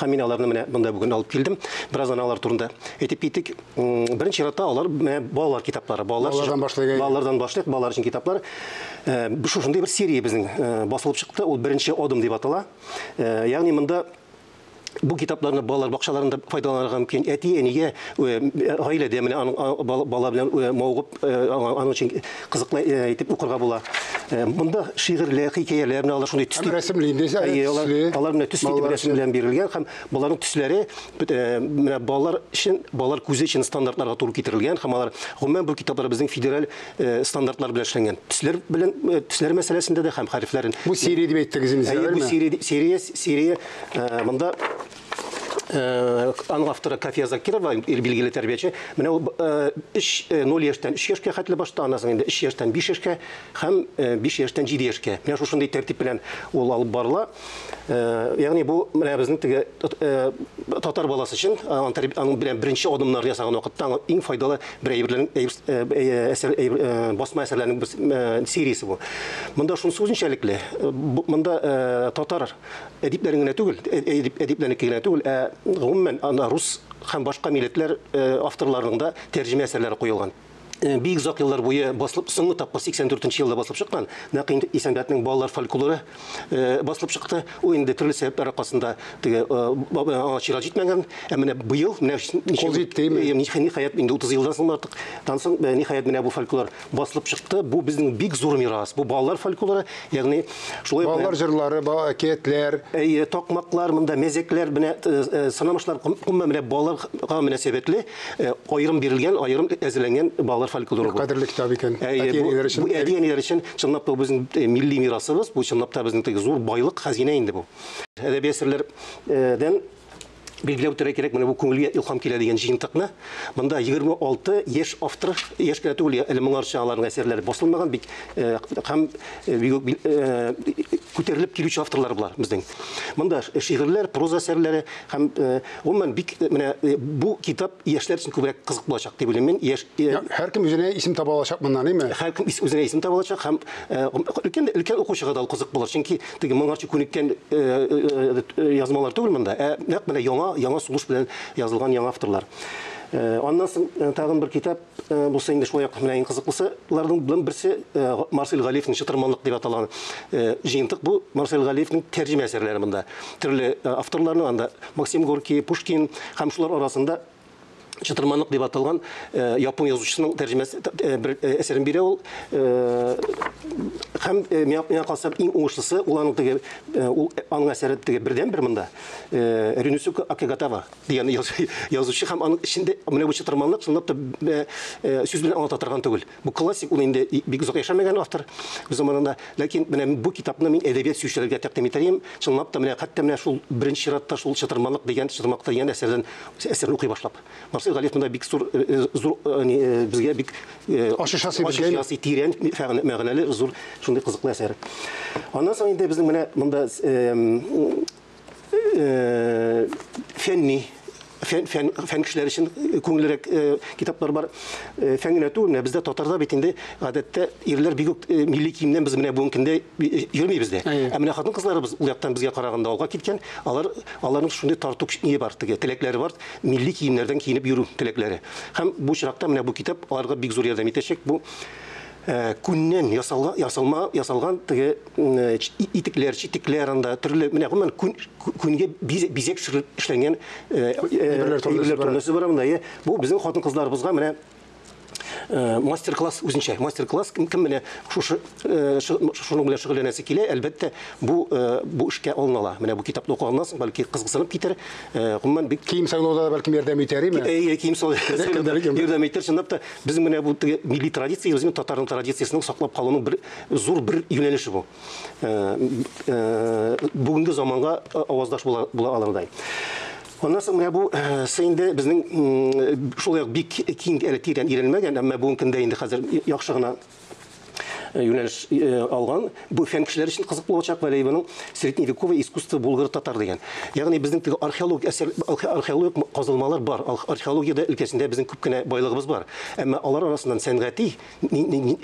Һәм мин аларны менә монда бүген алып килдем. Бераздан алар турында әйтеп китик. Беренче чиратта алар менә балалар китаплары. Балалар балалардан башлыйк. Балалардан башлыйк, балалар өчен китаплар. Э, шушындый бер серия безнең э, басылып чыкты. Ул беренче адым дип атала. Э, ягъни монда бу китапларны балалар бакчаларында файдаланырга мөмкин. Әти, әнигә, гаиләдә менә аның бала белән мавыгып, аның өчен кызыклы итеп укырга була. Монда шигырьле, хикәяләр менә алар шундый төс. Рәсемле инде, төсле. Алар менә төс итеп рәсем белән бирелгән һәм боларның төсләре менә балалар өчен, балалар күзе өчен стандартларга туры китерелгән һәм алар гомумән бу китаплар безнең федераль стандартлар белән эшләнгән. Төсләр белән төсләр мәсьәләсендә дә һәм хәрефләрен. Бу серия дип әйттегез инде, әйе, бу серия, серия, серия. Монда Аның авторы Кафия Закирова, билгеле тәрбияче. Менә ул 3 0 яшьтән 3 яшькә хәтле башта, аннан соң инде 3 яшьтән 5 яшькә һәм 5 яшьтән 7 яшькә. Менә шушындый тәртип белән ул алып барыла. Ягъни бу менә безнең теге татар баласы өчен аның белән беренче адымнар ясаган вакытта аңа иң файдалы бер әйберләрнең әсәр басма әсәрләрнең сериясе бу. Монда шунысы үзенчәлекле, монда татар әдипләрен генә түгел, әдип, әдипләрнеке генә түгел, ә гомумән ана рус һәм башка милләтләр авторларының да тәрҗемә әсәрләре куелган. Бик озак еллар буе басылып, соңгы тапкыр 84 елда басылып чыккан. Нәкъ инде Исәнбәтнең балалар фольклоры басылып чыкты. Ул инде төрле сәбәпләр аркасында теге аңа чират җитмәгән. Ә менә быел, менә ничек җитте, ниһаять инде 30 елдан соң артык, тансың, ниһаять менә бу фольклор басылып чыкты. Бу безнең бик зур мирас. Бу балалар фольклоры, ягъни шулай балалар җырлары, балалар әкиятләр. Әйе, такмаклар, монда мәзәкләр, менә э, э, сынамышлар, гомумән менә балаларга мөнәсәбәтле э, аерым бирелгән, аерым әзерләнгән балалар фольклоры бу. Кадерле китап икән. Әйе, бу, өчен. Бу әти-әниләр өчен чынлап та безнең милли мирасыбыз, бу чынлап та безнең зур байлык, хәзинә инде бу. Әдәби әсәрләрдән Билгеләп үтәргә кирәк, менә бу күңелгә илһам килә дигән җыентыкны. Монда 26 яшь автор, яшь кенә түгел, әле моңарча аларның әсәрләре басылмаган бик һәм күтәрелеп килүче авторлар болар безнең. Монда шигырьләр, проза әсәрләре һәм гомумән бик менә бу китап яшьләр өчен күбрәк кызык булачак дип уйлыйм мин. Яшь һәркем үзенә исем таба алачак моннан, әйме? Һәркем үзенә исем таба алачак һәм өлкән өлкән укучыга да ул кызык булыр, чөнки теге моңарчы күнеккән э, э, э, язмалар түгел монда, ә нәкъ менә яңа яңа сугыш белән язылган яңа авторлар. Аннан соң тагын бер китап булса инде шулай ук менә иң кызыклысыларның белән берсе Марсель Галиевның Чытырманлык дип аталган җыентык. Бу Марсель Галиевның тәрҗемә әсәрләре монда. Төрле авторларның анда Максим Горький, Пушкин һәм шулар арасында Чытырманлык дип аталган япон язучысының тәрҗемәсе бер әсәрен бирә ул. Һәм миңа калса иң уңышлысы ул аның теге ул аның әсәре теге бердән бер монда. Ринусука Акигатава дигән язучы һәм аның эчендә менә бу чытырманлык чынлап та сүз белән аңлата торган түгел. Бу классик, ул инде бик озак яшәмәгән автор үз заманында. Ләкин менә бу китапны мин әдәбият сөючеләргә тәкъдим итәем. Чынлап та, менә хәтта менә шул беренче чиратта шул Чытырмалык дигән, Чытырмалыкта дигән әсәрдән әсәрне укый башлап. Марсель Галиев монда бик зур, зур, яни безгә бик ачыш ясый, ачыш ясый, тирән мәгънәле, зур шундый кызыклы әсәр. Аннан соң инде безнең менә монда э, фәнни фән, фән, фән кешеләре өчен күңеллерәк э, китаплар бар. Э, фән генә түгел, менә бездә татарда бит инде гадәттә ирләр бик үк э, милли киемнән без менә бүгенге көндә э, йөрмибез дә. Ә менә хатын-кызларыбыз ул яктан безгә караганда алга киткән, алар аларның шундый тарту күчне бар теге, теләкләре бар, милли киемнәрдән киенеп йөрү теләкләре. Һәм бу чиракта менә бу китап аларга бик зур ярдәм итәчәк. Бу күннән ясалган теге итекләр, читекләр анда төрле, менә гомумән күн, күнгә бизәк төшереп эшләнгән әйберләр төрлесе бар монда. Бу безнең хатын-кызларыбызга менә мастер-класс үзенчә. Мастер-класс кем менә шушы шуның белән шөгыльләнәсе килә, әлбәттә, бу бу эшкә алынала. Менә бу китапны укыганнан соң, бәлки кызыксынып китәр. Гомумән бик кием сайлауда да бәлки ярдәм итәр, име? Әйе, кием сайлауда ярдәм итәр, чынлап та. Без менә бу теге милли традиция, үзенең татарның традициясенең саклап калуның бер зур бер юнәлеше бу. Э, э, бүгенге заманга э, аваздаш була, була алырдай. Аннан соң менә бу инде безнең шулай ук бик киң әле тирән өйрәнмәгән, әмма бүгенге көндә инде хәзер яхшы гына юнәлеш алган. Бу фән кешеләр өчен кызык булачак Вәлиевның средневековое искусство булгыр-татар дигән. Ягъни безнең теге археологик әсәр археологик казылмалар бар. Археологиядә өлкәсендә безнең күп кенә байлыгыбыз бар. Әмма алар арасыннан сәнгати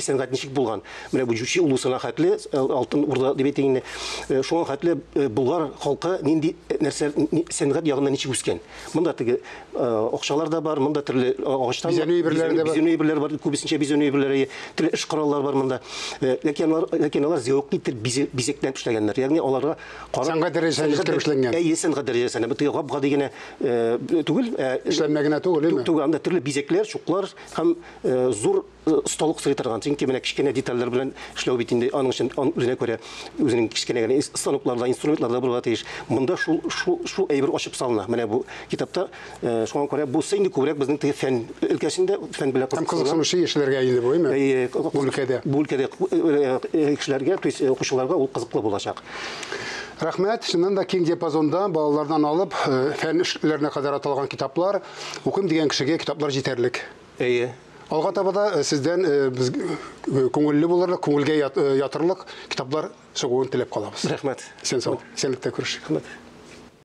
сәнгать ничек булган? Менә бу Җүчи улусына хәтле Алтын Урда дип әйтик инде. Шуңа хәтле болгар халкы нинди нәрсә сәнгать ягыннан ничек үскән? Монда теге акчалар да бар, монда төрле агачтан бизәнү әйберләре дә бар. Бизәнү әйберләре бар, күбесенчә бизәнү әйберләре, төрле эш кораллары бар монда. Ләкин алар, ләкин алар зәвык итеп бизәктән эшләгәннәр. Ягъни аларга карап сәнгать дәрәҗәсенә җиткереп эшләнгән. Әйе, сәнгать дәрәҗәсенә. Бу теге гап-гади генә түгел, эшләнмә генә түгел, әйме? Түгел, анда төрле бизәкләр, чуклар һәм зур Осталык сорый торган, чөнки менә кечкенә детальләр белән эшләү бит инде аның өчен ан- үзенә күрә үзенең кечкенә генә ис- станоклар да, инструментлар да булырга тиеш. Монда шул, шул, шул әйбер ачып салына, менә бу китапта. Э, Шуңа күрә бусы инде күбрәк безнең теге фән өлкәсендә, фән белән Һәм кызыксынган. кызыксынучы яшьләргә инде бу, әйме? Әйе, ку- Бу өлкәдә. Бу өлкәдә ку- э, э, кешеләргә, то есть э, укучыларга ул кызыклы булачак. Рәхмәт. Чыннан да киң диапазонда балалардан алып, э, фән эш ләренә кадәр аталган китаплар. Укыйм дигән кешегә китаплар җитәрлек. Әйе. Алга таба да сездән без күңелле булырлык, күңелгә ятырлык китаплар чыгуын теләп калабыз. Рәхмәт. Исән сау. Исәнлектә күрешик. Рәхмәт.